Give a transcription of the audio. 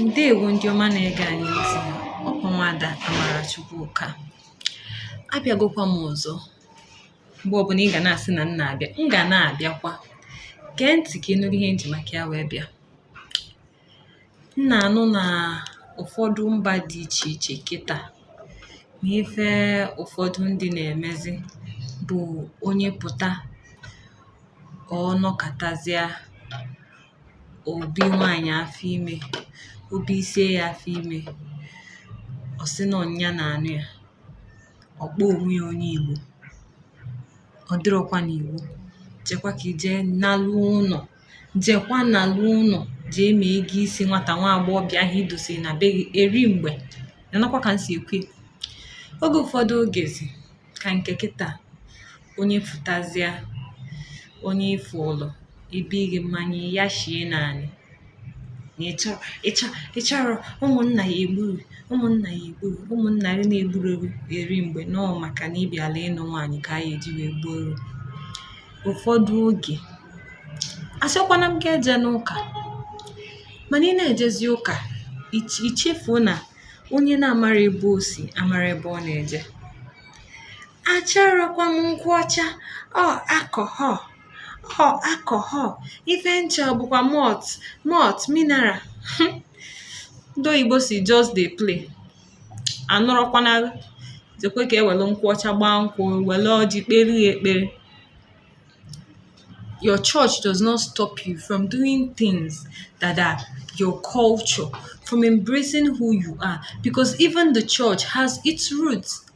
ndeewo ndị ọma na-ege anyị ntị ọkwa nwada Amara Chukwuka abịagokwa m ọzọ mgbe ọbụla ị ga na-asị na m na-abịa m ga na-abịakwa gee ntị ka ị nụrụ ihe m ji maka ya wee bịa m na-anụ na ụfọdụ mba dị iche iche kịta na ife ụfọdụ ndị na-emezi bụ onye pụta ọ nọkatazịa o bie nwaanyị afọ ime o bisie ya afọ ime ọ sị na nya na-anụ ya ọ kpọọ onwe ya onye Igbo ọ dịrọkwa n'iwu jekwa ka i je nalu ụnọ jekwa nalu ụnọ jee mee ego isi nwata nwa agbọghọbịa ahụ i dosiri na be gị eri mgbe nakwa ka m si ekwe oge ụfọdụ ogezi ka nke kịta Onye fụtazịa onye ife ụlọ ibe gị mmanya ya shie naanị ị chọrọ ụmụnna ya egburu ụmụnna ya egburu ụmụnna gị na-egburu eri mgbe nọọ maka na ị bịala ịnụ nwaanyị ka anyị eji wee gbuoro ụfọdụ oge asịkwana m gị ejena ụka mana ị na-ejezi ụka i chefuo na onye na-amarọ ebe o si amarọ ebe ọ na-eje achọrọkwa m nkwụ ọcha ọ alcohol ọ alcohol ife m chọ bụkwa malt malt mineral ndị oyibo sị just dey play anụrọkwana jekwa ka e wele nkwụ ọcha gbaa nkwụ wele ọjị kpere ya ekpere your church does not stop you from doing things that are your culture from embracing who you are because even the church has its roots